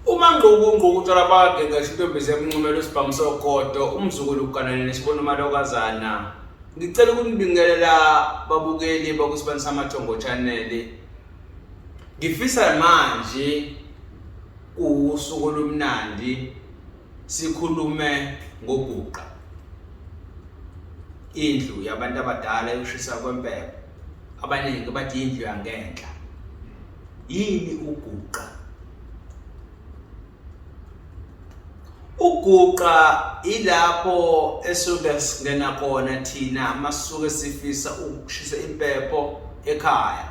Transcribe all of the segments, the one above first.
umangqukungquku utshwala bakhe ngisho intombi zemncumela usibhamu sogodo umzukulu uganane nesibona umalokazana ngicela ukunibingelela babukeli bakusibani samathongo channel ngifisa manje kuwusuku olumnandi sikhulume ngoguqa indlu yabantu abadala yokushisa kwempepho abaningi bathi indlu yangenhla Yini uguqa? Uguqa ilapho esuke singena khona thina amasuke sifisa ukushisa impepho ekhaya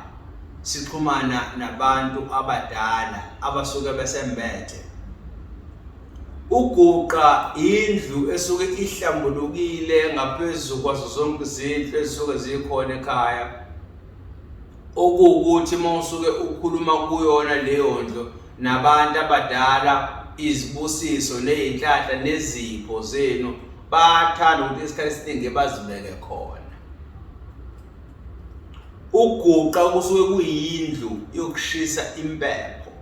sixhumana nabantu abadala abasuke besembethe uguqa indlu esuke ihlambulukile ngaphezulu kwazo zonke izindlu ezisuke zikhona ekhaya okuwukuthi uma usuke ukhuluma kuyona leyo ndlo nabantu abadala izibusiso ney'nhlanhla nezipho zenu bathanda ukuthi isikhathi esiningi bazibeke khona uguqa kusuke kuyindlu yokushisa impepho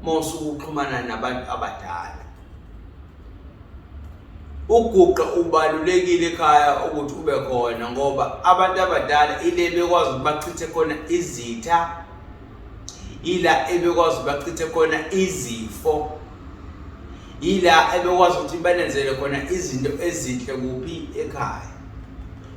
uma usuke uxhumana nabantu abadala uguqa ubalulekile ekhaya ukuthi ube khona ngoba abantu abadala ile bekwazi ukuthi bachithe khona izitha ila ebekwazi ukuthi bachithe khona izifo ila ebekwazi ukuthi banenzele khona izinto ezinhle kuphi ekhaya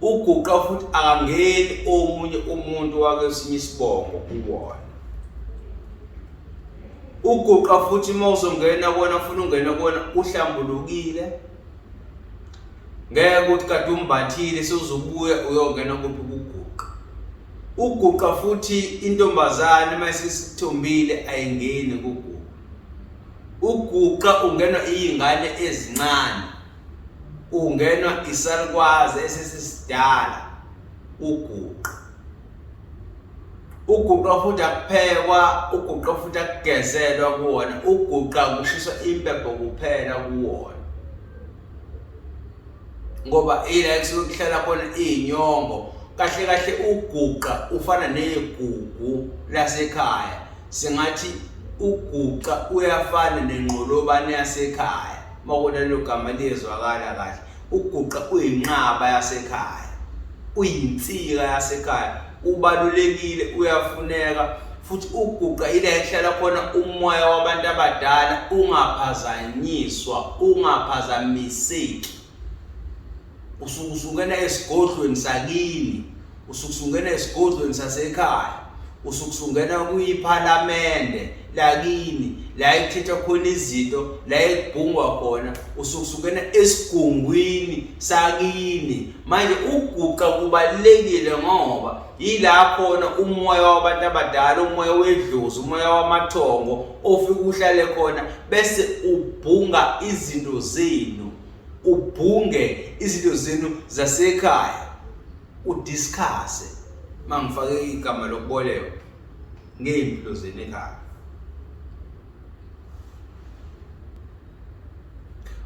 uguqa futhi akangeni omunye umuntu wakesinye isibongo kuwona uguqa futhi uma uzongena kona ufuna ungena kona uhlambulukile ngeke ukuthi kade umbathile sewuzobuya uyongena kuphi kuguqa uguqa futhi intombazane uma isisithombile ayingeni kuguqa uguqa ungenwa iy'ngane ezincane ungenwa isalukwazi esesisidala uguqa uguqa futhi akuphekwa uguqa futhi akugezelwa kuwona uguqa kushiswa impepho kuphela kuwona ngoba ila ekusuke kuhlala khona izinyongo kahle kahle uguqa ufana negugu lasekhaya singathi uguqa uyafana nenqolobane yasekhaya uma ubona lelo gama liyezwakala kahle uguqa uyinqaba yasekhaya uyinsika yasekhaya ubalulekile uyafuneka futhi uguqa ila ehlala khona umoya wabantu abadala ungaphazanyiswa ungaphazamiseki usuke usungena esigodlweni sakini usuke usungena esigodlweni sasekhaya usuke usungena kuyiphalamende lakini la ekuthethwa khona izinto la ekubhungwa khona usuke usungena esigungwini sakini manje ukuguqa kubalulekile ngoba yila khona umoya wabantu abadala umoya wedlozi umoya wamathongo ofike uhlale khona bese ubhunga izinto zenu ubhunge izinto zenu zasekhaya udiscusse mangifake igama lokuboleka ngey'mpilo zenu ekhaya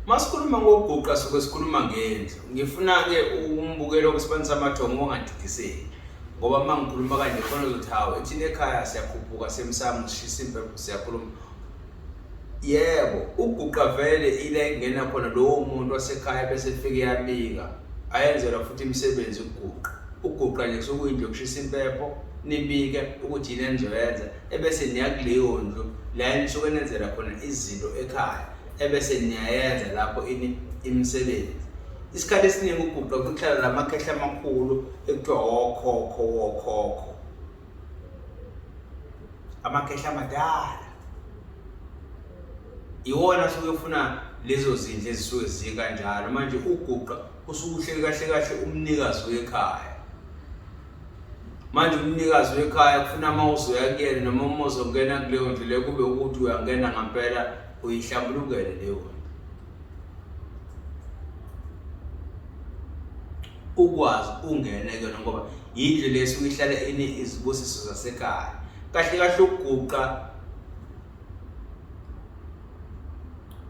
masikhuluma ngokuguqa suke sikhuluma ngendlu ngifuna-ke umbukelo kwesibani samathongo ongadidiseki ngoba uma ngikhuluma kanje khona uzothi hawu ethina ekhaya siyakhuphuka semsamo sishisa impepho siyakhuluma Yebo, uguqa vele ila ekungena khona lowo muntu wasekhaya bese efike yabika. Ayenzelwa futhi imisebenzi ukuguqa. Uguqa nje kusuke kuyindlu yokushisa impepho, nibike ukuthi yini enizoyenza ebese niya kuleyo ndlu la enisuke nenzela khona izinto ekhaya ebese niyayenza lapho ini imisebenzi. Isikhathi esiningi uguqa kuhlala la makhehla amakhulu ekuthiwa wokhokho wokhokho. amakhehla amadala iwona asuke ufuna lezo zindlu ezisuke zikanjalo manje uguqa usukuhleli kahle kahle umnikazi wekhaya manje umnikazi wekhaya kufuna uma uzoya kuyena noma uma uzongena kuleyo ndlu leyo kube ukuthi uyangena ngampela uyihlambulukele leyo ndlu ukwazi ungene kuyona ngoba yindlu le esuke ihlale ine izibusiso zasekhaya kahle kahle ukuguqa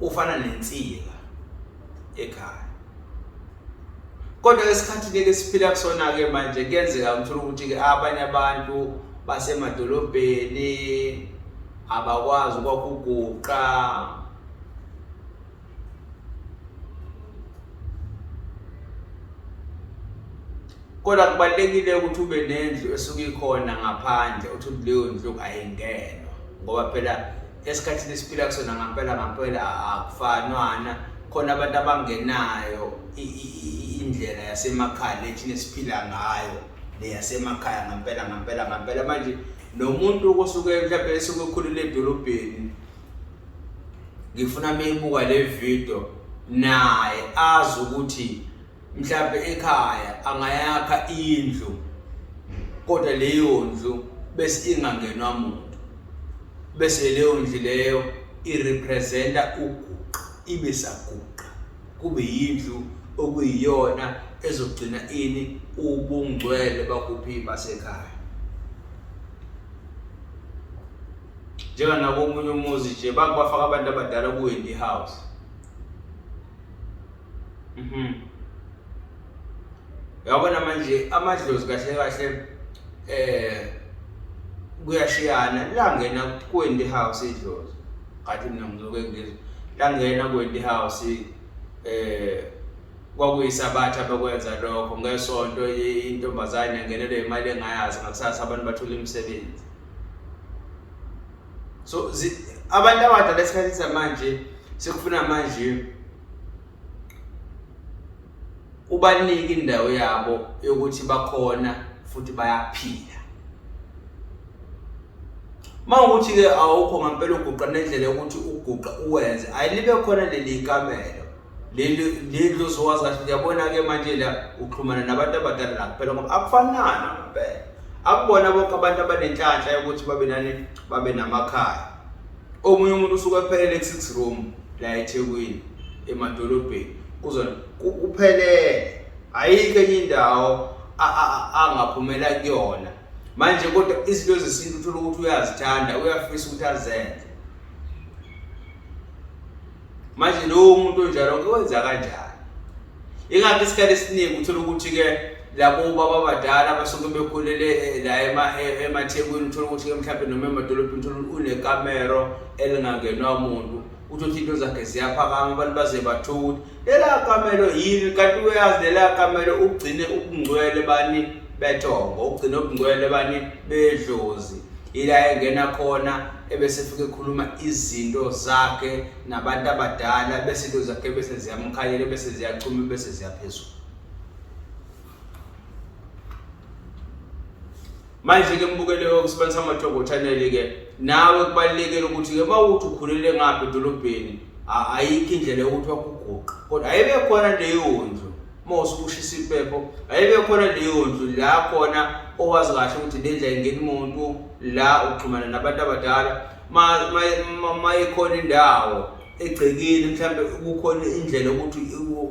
ufana nensika ekhaya kodwa lesikhathi ke siphila kusona ke manje kuyenzeka umthola ukuthi ke abanye abantu basemadolobheni abakwazi ukwakuguqa kodwa kubalulekile ukuthi ube nendlu esuke ikhona ngaphandle uthi leyo ndlu ayingenwa ngoba phela esikhathini esiphila kusona ngampela ngampela akufanwana khona abantu abangenayo indlela yasemakhaya lethina esiphila ngayo leyasemakhaya ngampela ngampela ngampela manje nomuntu osuke mhlawumbe esuke ekhulele edolobheni ngifuna meyibuka le video naye azi ukuthi mhlawumbe ekhaya angayakha indlu kodwa leyo ndlu bese ingangenwa muntu bese leyo ndlu leyo irepresenta uguqa ibe saguqa kube yindlu okuyiyona ezogcina ini ubungcwele bakuphi basekhaya njenganakomunye umuzi nje bakubafaka abantu abadala ku-wendy house mhm yabona manje amadlozi kahle kahle eh kuyashiyana langena ku-wendy house idlozi ngathi mina ngizoke ngizwe langena ku-wendy house eh kwakuyisabatha bekwenza lokho ngesonto intombazane yangenelwe imali engayazi ngakusasa abantu bathola imisebenzi so abantu abadala esikhathini samanje sekufuna manje ubanike indawo yabo yokuthi bakhona futhi bayaphila mawukuthi ke awukho ngempela uguqa nendlela yokuthi uguqa uwenze ayilibe khona leli kamelo leli lozowazi kahle uyabona-ke manje la uxhumana nabantu abadala la kuphela ngoba akufanana ngempela akubona bonke abantu abanenhlanhla yokuthi babe nani babe namakhaya omunye umuntu usuke ephelele ku-six room la ethekwini emadolobheni kuzona uphelele ayikho enye indawo angaphumela kuyona manje kodwa izinto zesintu uthola ukuthi uyazithanda uyafisa ukuthi azenze manje lowo muntu onjalo ngiwenza kanjani ingakho isikhathi esiningi uthola ukuthi-ke labo baba badala abasuke bekhulele eh, la eh, emathekwini uthola ukuthi-ke mhlawumbe noma emadolobheni uthola unekamero elingangenwa muntu uthothi into zakhe ziyaphakama abantu baze bathukuthi lela kamelo yini kanti uyazi lela kamelo ugcine ubungcwele bani bethongo ugcine ubungcwele bani bedlozi ila engena khona ebese efike ekhuluma izinto zakhe nabantu abadala bese into zakhe bese ziyamkhanyela bese ziyachuma bese ziyaphezulu manje ke mbukele ukusebenzisa amathongo channel ke nawe kubalekele ukuthi ke mawuthi ukhulele ngaphi edolobheni ayikho indlela yokuthi wakuguqa kodwa ayibe khona leyo ndlu mose ushisa impepho ayibe khona leyo ndlu la khona owazi kahle ukuthi le ndlela ingena umuntu la uxhumana nabantu abadala mayekhona indawo egcekile mhlawumbe kukhona indlela ukuthi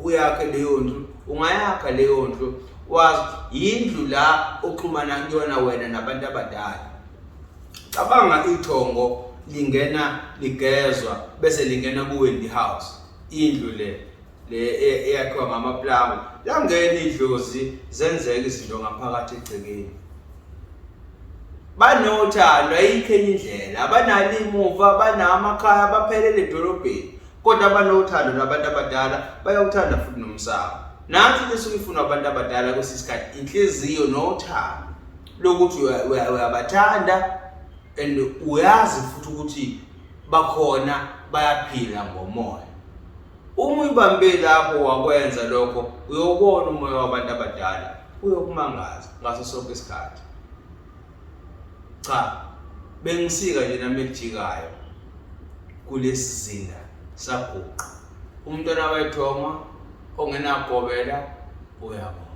uyakhe leyo ndlu ungayakha leyo ndlu wazi yindlu la oxhumana kuyona wena nabantu abadala cabanga ithongo lingena ligezwa bese lingena kuwendi house indlu le le e- eyakhiwa ngamaplanga langena idlozi zenzeka izinto ngaphakathi egcekeni banothando ayikho enye indlela abanalo imuva banamakhaya abaphelele edolobheni kodwa abanothando nabantu abadala bayawuthanda futhi nomsamo nansi into esuke ifunwa abantu abadala kwesinye isikhathi inhliziyo nothando lokuthi uya- uya- uyabathanda and uyazi futhi ukuthi bakhona bayaphila ngomoya Uma uyibambe lapho wakwenza lokho, uyobona umoya wabantu abadala uyokumangaza ngaso sonke isikhathi. Cha, bengisika nje nami ekujikayo kulesi zinda saguqa. Umntwana wethoma ongenagobela uyabona.